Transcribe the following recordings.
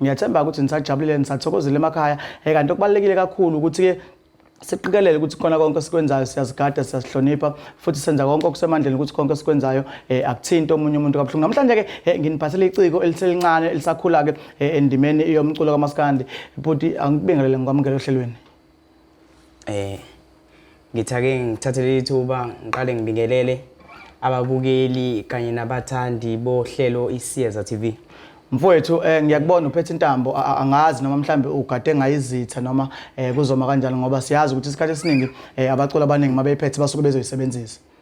Ngiyathemba ukuthi nisajabulile nisathokozile emakhaya. Eh kanti okubalekile kakhulu ukuthi ke siqikelele ukuthi khona konke esikwenzayo siyazigada siyazihlonipha futhi senza konke okusemandleni ukuthi konke esikwenzayo eh, akuthinti omunye umuntu kabuhlungu namhlanje ke eh, nginiphathele iciko eliselincane elisakhula ke eh, endimeni yomculo kamaskandi bhuti angibingelele ngikwamukele ohlelweni Eh ngithake ngithathe leli thuba ngiqale ngibingelele ababukeli kanye nabathandi bohlelo iSiyeza TV. Mfowethu eh ngiyakubona uphethe intambo a- a- angazi noma mhlambe ugade ngayizitha noma eh kuzoma kanjani ngoba siyazi ukuthi isikhathi esiningi eh abaculi abaningi mabeyiphethe basuke bezoyisebenzisa.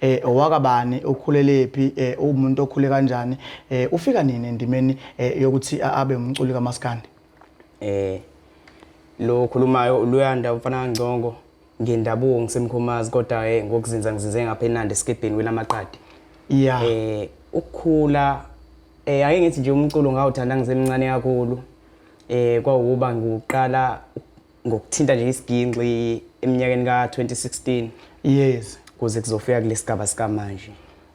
eh owakabani ukhulelephi eh umuntu okhule kanjani eh ufika nini endimeni eh, yokuthi abe umculi kamaskandi eh lo khulumayo uluyanda umfana kaNgcongo ngendabuko ngisemkhomazi kodwa eh ngokuzinza ngizinze ngapha eNandi esikebheni welamaqadi yeah eh ukukhula eh ake ngithi nje umculo ngawuthanda ngisemncane kakhulu eh kwawuba ngiqala ngokuthinta nje isiginxi eminyakeni ka-2016 yes kuze kuzofika kulesigaba sikamanje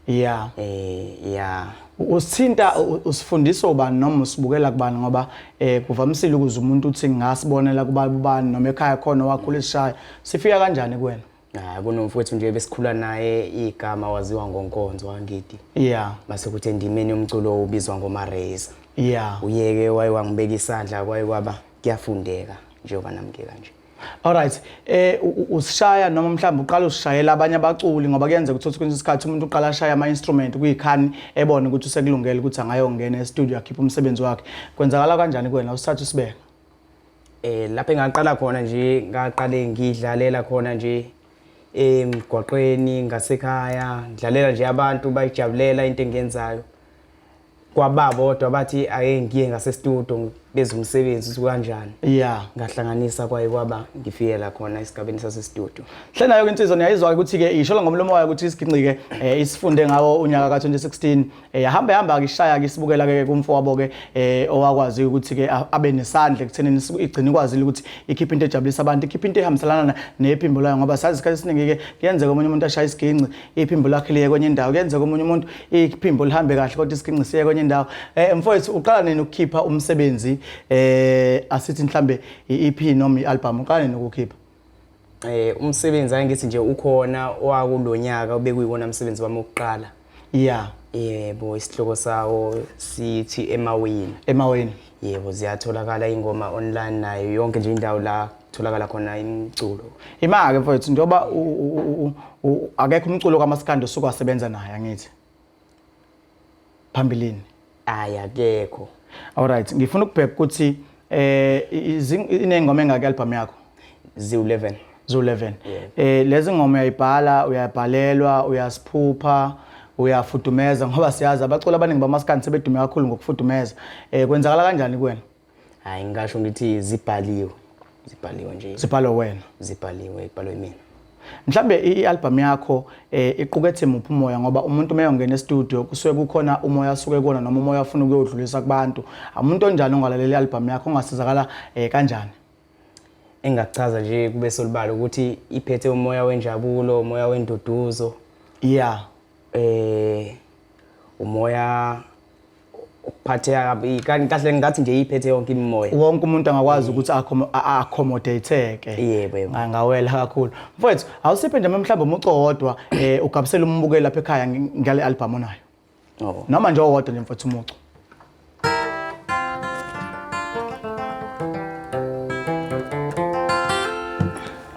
yeah eh yeah usithinta usifundisa ubani noma usibukela kubani ngoba eh kuvamisile ukuze umuntu uthi ngasibonela kubani noma ekhaya khona wakhula esishaya sifika kanjani kuwena Hayi kunomfowethu nje besikhula naye igama waziwa ngonkonzo wangidi. Yeah. Base kuthi endimeni yomculo ubizwa ngoMareza. Yeah. Uyeke waye wangibeka isandla kwaye kwaba kuyafundeka njengoba namke kanje. Alright eh usishaya noma mhlawumbe uqala usishayela abanye abaculi ngoba kuyenzeka ukuthi uthi kwenye isikhathi umuntu uqala ashaya ama instrument kuyikhani ebone ukuthi usekulungele ukuthi angayongena e studio akhiphe umsebenzi wakhe kwenzakala kanjani kuwena usithatha usibeka eh lapho engaqala khona nje ngaqale ngidlalela khona nje emgwaqweni ngasekhaya ngidlalela nje abantu bayijabulela into engiyenzayo kwababodwa bathi ake ngiye ngasestudio benza umsebenzi ukuthi kanjani ya ngahlanganisa kwaye kwaba ngifike la khona esigabeni sasestudio hle nayo-ke insizwa niyayizwa-ke ukuthi-ke ishola ngomlomo wayo ukuthi isigingqike um isifunde ngawo unyaka ka-2016 yahamba eh, hamba kishaya ke sibukela ke kumfowabo ke eh, owakwazi ukuthi ke abe nesandla ekuthenini igcina ikwazile ukuthi ikhiphe into ejabulisa abantu ikhiphe into ehambiselana nephimbo layo ngoba sazi isikhathi esiningi ke kuyenzeka omunye umuntu ashaya isiginci iphimbo lakhe liye kwenye indawo kuyenzeka omunye umuntu iphimbo lihambe kahle kodwa isiginci siye kwenye indawo eh mfowethu uqala nini ukukhipha umsebenzi eh asithi mhlambe i-EP noma i-album uqala nini ukukhipha eh umsebenzi angithi nje ukhona owakulonyaka obekuyiwona umsebenzi wami wokuqala yeah yebo isihloko sawo sithi emawini emawini yebo ziyatholakala ingoma online nayo yonke nje indawo la tholakala khona imculo ima-ke mfowethu njengoba akekho umculo kamasikandi osuke wasebenza naye angithi phambilini hayi akekho alright ngifuna ukubheka ukuthi eh izi- inengoma engaki album yakho ziwu-11 zu-11 Yeah. eh lezi ngoma uyayibhala uyabhalelwa uyasiphupha uyafudumeza ngoba siyazi abaculi abaningi bamaskandi sebedume kakhulu ngokufudumeza eh kwenzakala kanjani kuwena hayi ngisho ngithi zibhaliwe zibhaliwe nje zibhalwe wena zibhaliwe ibhalwe mina mhlambe i-album yakho eh, iqukethe muphi umoya ngoba umuntu uma eyongena estudio kusuke kukhona umoya asuke kuwona noma umoya afuna ukuyodlulisa kubantu umuntu onjani ongalalela i-album yakho ongasizakala eh, kanjani engakuchaza nje kube solibala ukuthi iphethe umoya wenjabulo umoya wenduduzo yeah eh umoya ukuphatheka kabi kanti kahle ngathi nje iphethe yonke imimoya wonke umuntu angakwazi mm. ukuthi accommodate-ke yebo yebo ngawela kakhulu mfowethu awusiphe nje mhlawumbe umuco wodwa eh ugabisela umbukeli lapha ekhaya ngale album onayo oh. noma nje owodwa nje mfowethu umuco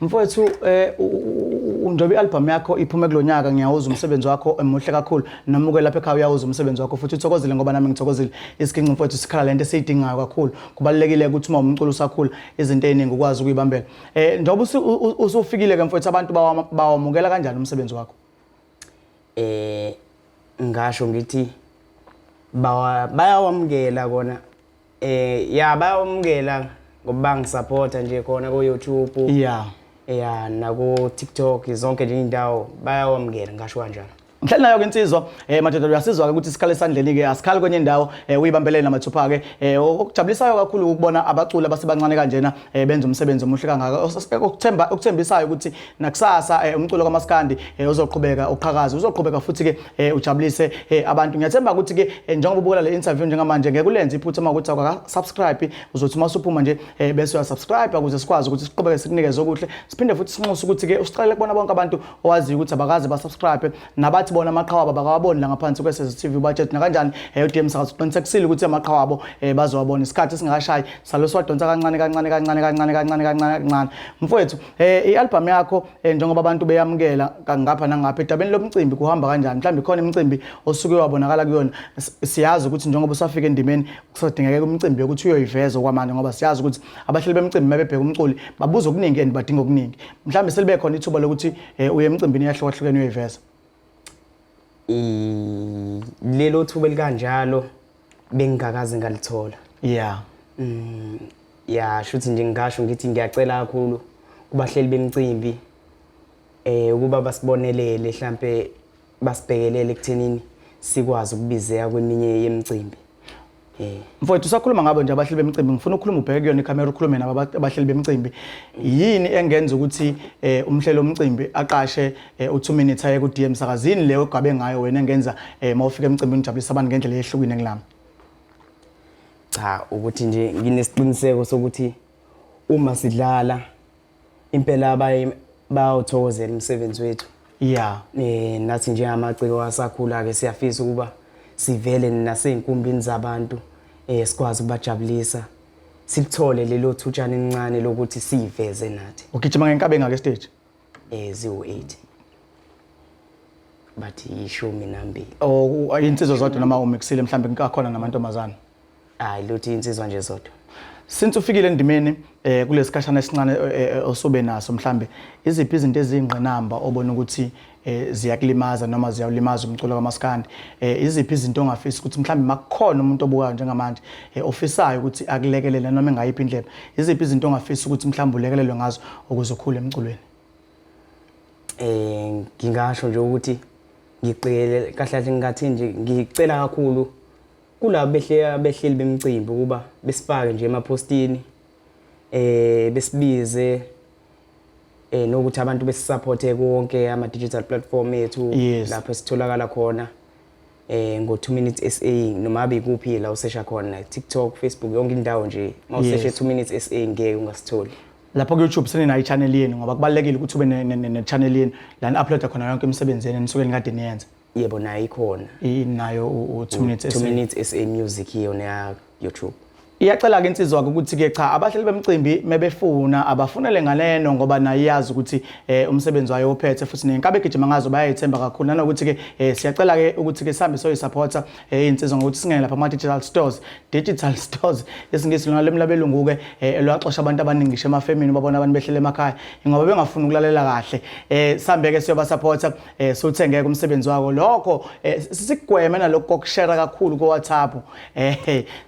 Mfowethu eh unjobe album yakho iphume kulonyaka ngiyawuza umsebenzi wakho emuhle kakhulu noma uke lapha ekhaya uyawuza umsebenzi wakho futhi uthokozile ngoba nami ngithokozile isiginci mfowethu sikhala lento esiyidingayo kakhulu kubalekile ukuthi uma umculo usakhula izinto eziningi ukwazi ukuyibambela eh njobe usufikile ke mfowethu abantu bawamukela kanjani umsebenzi wakho eh ngasho ngithi bayawamukela kona Eh ya bayomukela ngoba bangisupporta nje khona ko YouTube. Yeah. Yeah nako TikTok zonke nje indawo bayawamukela ngasho kanjalo. Mhlali nayo ke insizwa eh madoda uyasizwa ke ukuthi sikhale sandleni ke asikhali kwenye indawo eh uyibambelele namathupha ke eh okujabulisayo kakhulu ukubona abaculi abasebancane kanjena eh benza umsebenzi omuhle kangaka okuthemba okuthembisayo ukuthi nakusasa eh, umculo kamaskandi eh, uzoqhubeka uqhakaza uzoqhubeka futhi ke eh, ujabulise eh, abantu ngiyathemba ukuthi ke eh, njengoba ubukela le interview njengamanje ngeke ulenze iphutha uma ukuthi awaka subscribe uzothi uma usuphuma nje eh, bese uya subscribe ukuze sikwazi ukuthi siqhubeke sikunikeze okuhle siphinde futhi sinxuse ukuthi ke usiqalele kubona bonke abantu owaziyo ukuthi abakaze ba subscribe nabathi bona amaqhawa abo bakawaboni la ngaphansi kwesezi TV budget nakanjani eh, uDM Sakazi uqinisekisile ukuthi amaqhawa abo eh, bazowabona isikhathi singakashayi saloswadonsa kancane kancane kancane kancane kancane kancane kancane mfowethu Eh ialbum yakho eh, njengoba abantu beyamukela kangapha nangapha edabeni lomcimbi kuhamba kanjani? Mhlawumbe khona imicimbi osuke wabonakala kuyona. Siyazi ukuthi njengoba usafika endimeni kusadingeka umcimbi ukuthi uyoyiveza okwamanje ngoba siyazi ukuthi abahleli bemcimbi mabebheka umculi babuza okuningi and badinga okuningi. Mhlawumbe selibe khona ithuba lokuthi eh, uye emcimbini yahlukahlukene uyoyiveza. Lelo thuba elikanjalo bengingakaze ngalithola yeah mm, ya shuthi nje ngingasho ngithi ngiyacela kakhulu kubahleli bemcimbi eh ukuba basibonelele mhlambe basibhekelele ekuthenini sikwazi ukubizeka kweminye yemicimbi eh mfowethu usakhuluma ngabo nje abahleli bemcimbi ngifuna ukukhuluma ubheke kuyona ikhamera ukhulume nabo abahleli bemcimbi yini engenza ukuthi eh umhlelo omcimbi aqashe eh, u2 minutes aye ku DM sakazini leyo ogabe ngayo wena engenza eh, mawufika emcimbini ujabulisa abantu ngendlela eyehlukile ngilami cha ukuthi nje nginesiqiniseko sokuthi uma sidlala impela abaye bayawuthokozela umsebenzi wethu yeah eh nathi njengamaciko asakhula ke siyafisa ukuba sivele naseyinkumbini zabantu eh sikwazi ukubajabulisa silithole lelo thutshana elincane lokuthi siveze nathi ugijima ngenkabe ngake stage eh ziwu-80 bathi yishumi nambili oh insizwa zodwa noma umixile mhlambe nkakhona namantombazana hayi luthi insizwa nje zodwa since ufikile endimeni eh kulesikhashana esincane eh, eh, osobe naso mhlambe iziphi izinto ezingqinamba obona ukuthi eh ziyakulimaza noma ziyawulimaza umculo kamaskandi eh iziphi izinto ongafisa ukuthi mhlawumbe makukhona umuntu obukayo njengamanje eh ofisayo ukuthi akulekelele noma engayiphi indlela iziphi izinto ongafisa ukuthi mhlawumbe ulekelelwe ngazo ukuze ukhule emculweni eh ngingasho nje ukuthi ngicele kahle kahle ngingathi nje ngicela kakhulu kulabo behle behleli bemcimbi ukuba besifake nje emapostini eh besibize eh nokuthi abantu besisupporte konke ama digital platform ethu Yes. lapho esitholakala khona eh ngo 2 minutes SA noma abikuphi la usesha khona TikTok Facebook yonke indawo nje mawuseshe Yes. 2 minutes SA ngeke ungasitholi lapho ku-youtube seninayo i-channel yenu ngoba kubalulekile ukuthi ube ne-channel yenu la ni-uploada khona yonke imisebenzi yenu enisuke nikade niyenza yebo nayo ikhona inayo u 2 minutes 2 minutes SA music hiyo na YouTube iyacela ke insizwa ukuthi ke cha abahleli bemcimbi mebefuna abafunele ngaleno ngoba naye iyazi ukuthi eh, umsebenzi wayo ophethe futhi nenkabe gijima ngazo bayayithemba kakhulu nanokuthi ke eh, siyacela ke ukuthi ke sihambe soyi supporter eh, insizwa ngokuthi singene lapha ama digital stores digital stores isingisi lona lemlabelungu ke eh, elwaxosha abantu abaningi ngisho emafemini babona abantu behlele emakhaya ngoba bengafuni ukulalela kahle eh, sihambe ke siyoba supporter eh sothe ngeke umsebenzi wako lokho eh, sigweme nalokho kokushare kakhulu ko WhatsApp eh,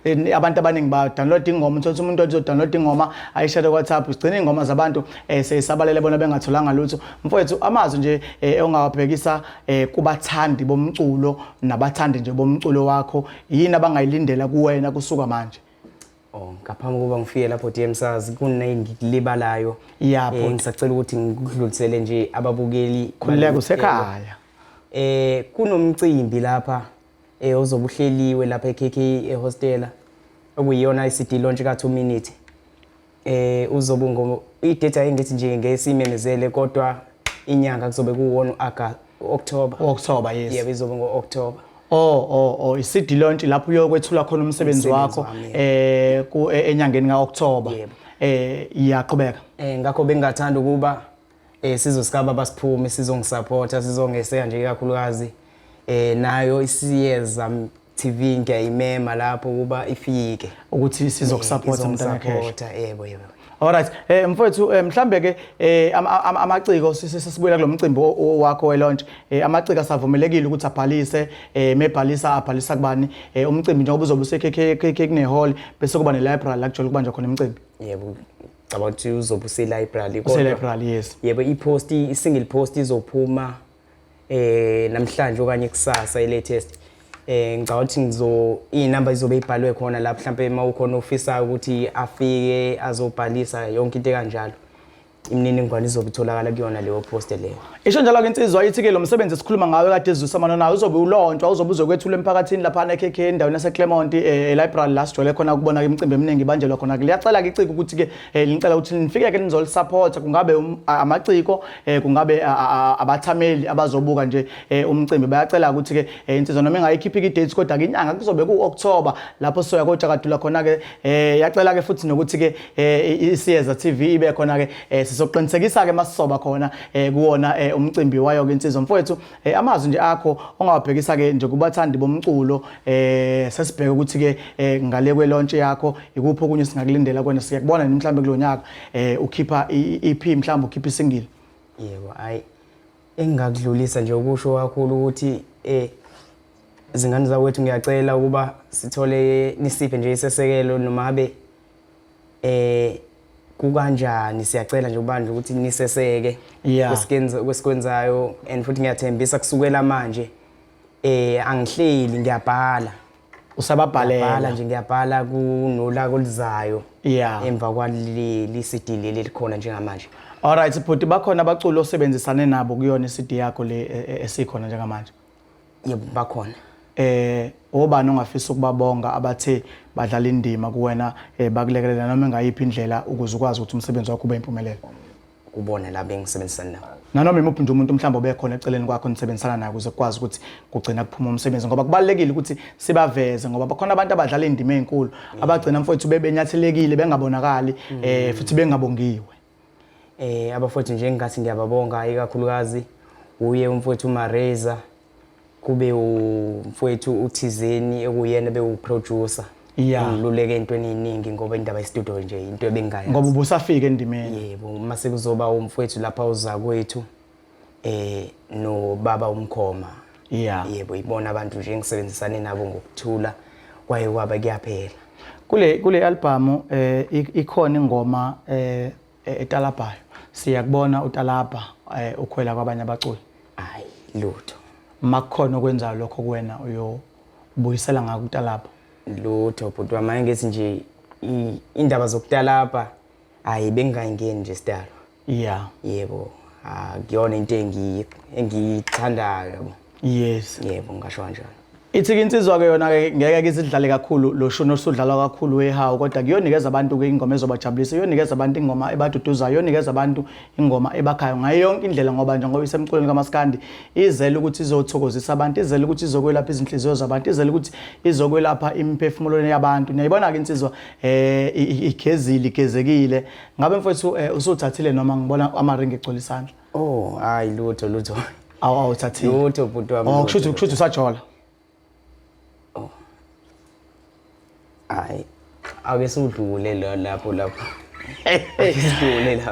eh abantu abaningi ba download ingoma uthola umuntu othi download ingoma ayishare ku WhatsApp sigcina ingoma zabantu eh seyisabalele bona bengatholanga lutho mfowethu amazwi nje eh, ongawabhekisa eh, kubathandi bomculo nabathandi nje bomculo wakho yini abangayilindela kuwena kusuka manje Oh, ngaphambi kokuba ngifike lapho DM sazi kunengilibalayo. Yabo eh, ngisacela ukuthi ngikudlulisele nje ababukeli khuleka kusekhaya. Eh kunomcimbi lapha eh ozobuhleliwe lapha eKK ehostela okuyiyona iCD launch ka 2 minute. Eh uzobe ngo idate ayingithi nje ngesimemezele kodwa inyanga kuzobe kuwona uAugust October. October yes. Yebo izobe ngo October. Oh oh oh iCD launch lapho uyokwethula khona umsebenzi wakho eh ku e, enyangeni ka October. Yebo. Eh iyaqhubeka. Eh ngakho bengathanda ukuba eh sizosikaba basiphume sizongisupporta sizongeseka nje kakhulukazi eh nayo isiyeza TV ngiyayimema lapho kuba ifike ukuthi sizokusupporta mntana cash yebo yebo Alright eh mfowethu eh, mhlambe ke eh, amaciko sisibuyela kulomcimbi wakho we launch eh, amaciko asavumelekile ukuthi abhalise mebhalisa abhalisa kubani umcimbi njengoba uzobe usekhekhe kune hall bese kuba ne library la kujolo kubanjwa khona umcimbi yebo cabanga ukuthi uzobe use library kodwa use library yes yebo i post i single post izophuma eh namhlanje okanye kusasa ilatest eh ngicabanga ukuthi ngizo inamba izobe ibhalwe khona la mhlambe uma ukhona ofisa ukuthi afike azobhalisa yonke into kanjalo imininingwane izobe itholakala kuyona leyo post leyo isho njalo ke insizwa ithi ke lo msebenzi esikhuluma ngawe kade ezwisa mano nayo uzobe ulontshwa uzobe uzokwethula emphakathini lapha na KK endaweni yase Clermont eh, e library la sijole khona ukubona ke imicimbi eminingi banjelwa khona ke liyacela ke iciko ukuthi ke eh, linicela ukuthi nifike ke nizolisupport kungabe um, amaciko eh kungabe abathameli abazobuka nje eh, umcimbi bayacela ukuthi ke eh, insizwa noma engayikhiphi ke dates kodwa ke inyanga kuzobe ku October lapho soya kodwa kadula khona ke eh, yacela ke futhi nokuthi ke isiyeza TV ibe khona ke sizoqinisekisa ke masisoba khona kuwona umcimbi wayo ke insizwa mfowethu Eh amazwi nje akho ongawabhekisa ke nje kubathandi bomculo eh sesibheke ukuthi ke eh, ngale kwe launch yakho ikuphi okunye singakulindela kwena siyakubona nini mhlawumbe kulonyaka eh ukhipha iEP mhlawumbe ukhipha isingle. Yebo hayi engakudlulisa nje ukusho kakhulu ukuthi eh zingane zakwethu ngiyacela ukuba sithole nisiphe nje isesekelo noma habe eh kukanjani siyacela nje ubandla ukuthi niseseke Yeah. kwesikwenza- kwesikwenzayo and futhi ngiyathembisa kusukela manje eh angihleli ngiyabhala bhala usababhalela nje ngiyabhala kunola kolizayo Yeah. emva kwaleli CD leli likhona njengamanje alright bhuti bakhona abaculi osebenzisane nabo kuyona i-cd yakho le e- e- esikhona njengamanje yebo bakhona eh obani ongafisa ukubabonga abathe badlala indima kuwena eh, bakulekelela noma engayiphi indlela ukuze ukwazi ukuthi umsebenzi wakho ube impumelelo kubona la bengisebenzisana nabo nanoma imuphi nje umuntu mhlawumbe obekhona eceleni kwakho nisebenzisana naye ukuze kukwazi ukuthi kugcina kuphuma umsebenzi ngoba kubalulekile ukuthi sibaveze ngoba bakhona abantu abadlala indima ezinkulu abagcina mfowethu bebenyathelekile bengabonakali eh futhi bengabongiwe eh abafowethu nje engathi ngiyababonga ikakhulukazi uye umfowethu uMareza kube umfowethu uthizeni ekuyena bewuproducer Yeah. ngiluleke entweni eyiningi ngoba indaba yestudio nje into ebengaya ngoba ubusafika endimeni yebo uma sekuzoba umfowethu lapha uzakwethu eh no baba umkhoma yeah yebo ibona abantu nje engisebenzisane nabo ngokuthula kwaye kwaba kuyaphela kule kule album eh ikhona ingoma eh etalabhayo siyakubona utalabha eh, ukhwela kwabanye abaculi hayi lutho makukhona okwenzayo lokho kuwena uyobuyisela ngako utalabha lutho bhuti wami ngithi nje indaba zokutalabha hayi bengingayingeni nje sidalo yeah yebo akuyona into engiyithandayo yabo yes yebo ngasho kanjalo Ithi insizwa ke yona ke ngeke ke isidlale kakhulu lo shuni osudlalwa kakhulu wehawu kodwa kuyonikeza abantu ke ingoma ezobajabulisa iyonikeza abantu ingoma ebaduduzayo iyonikeza abantu ingoma ebakhayo ngayo yonke indlela ngoba nje ngoba isemculweni kamaskandi izele ukuthi izothokozisa abantu izele ukuthi izokwelapha izinhliziyo zabantu izele ukuthi izokwelapha imiphefumulo yabantu niyayibona ke insizwa eh igezile igezekile ngabe mfowethu eh, usuthathile noma ngibona amaringi egcwele isandla oh hayi lutho lutho awu awuthathile lutho bhuti wami oh kushuthi kushuthi usajola oh hayi ake sudlule lapho lapho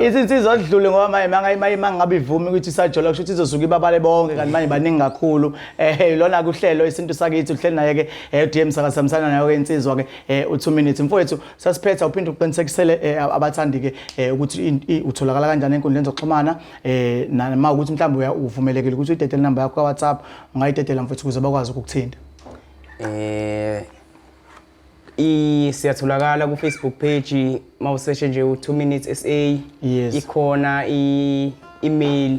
isinsizwa odlule ngoba manje mangayimanye mangabe ivumi ukuthi isajola kusho ukuthi izosuka ibabale bonke kanti manje baningi kakhulu eh lona kuhlelo isintu sakithi uhleli naye ke eh, DM sakasamsana nayo ke insizwa ke eh, u2 minutes mfowethu Sasiphetha uphinde uqinisekisele eh, abathandi ke eh, ukuthi utholakala kanjani enkundleni zokuxhumana eh nama ukuthi mhlawumbe uvumelekile ukuthi uyidedele number yakho kaWhatsApp ungayidedela mfethu ukuze bakwazi ukukuthinta. Eh i siyatholakala ku Facebook page mawuseshe nje u 2 minutes SA yes. ikhona i email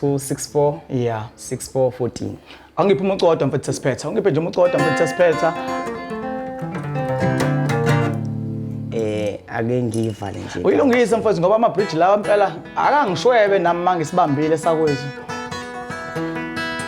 264 yeah 6414 awungiphi umucu kodwa mfethu sesiphetha awungiphe nje umucu kodwa mfethu sesiphetha eh ake ngiyivale nje uyilungise mfethu ngoba ama-bridge lawa mpela akangishwebe nami mangisibambile sakwethu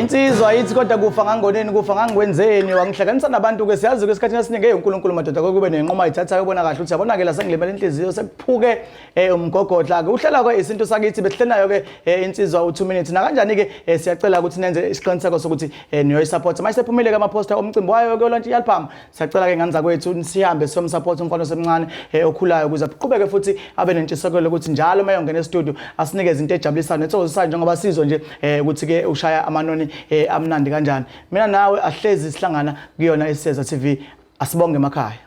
insizwa ithi kodwa kufa ngangoneni kufa ngangikwenzeni wangihlanganisa nabantu-ke siyazi-ke esikhathini esiningi eyi unkulunkulu madoda kokube nenquma ayithathayo ubona kahle ukuthi yabonakela sengilimela inhliziyo sekuphuke um eh, umgogodla-ke uhlala-ke isintu sakithi besihlelayo-ke um eh, insizwa u-two minutes nakanjani-ke um eh, siyacela ukuthi nenze isiqiniseko sokuthi um niyoyisaphotha manje sephumile-ke amaphosta omcimbi wayo-ke olantshi yalphama siyacela ke ngane zakwethu sihambe siyomsupport umfana osemncane eh, okhulayo ukuze aqhubeke futhi abe nentshisekelo ukuthi njalo uma eyongena estudio asinike izinto ejabulisayo nethokozisayo njengoba sizwe nje eh, ukuthi ke ushaya amanoni eh, amnandi kanjani mina nawe ahlezi sihlangana kuyona iseza TV asibonge emakhaya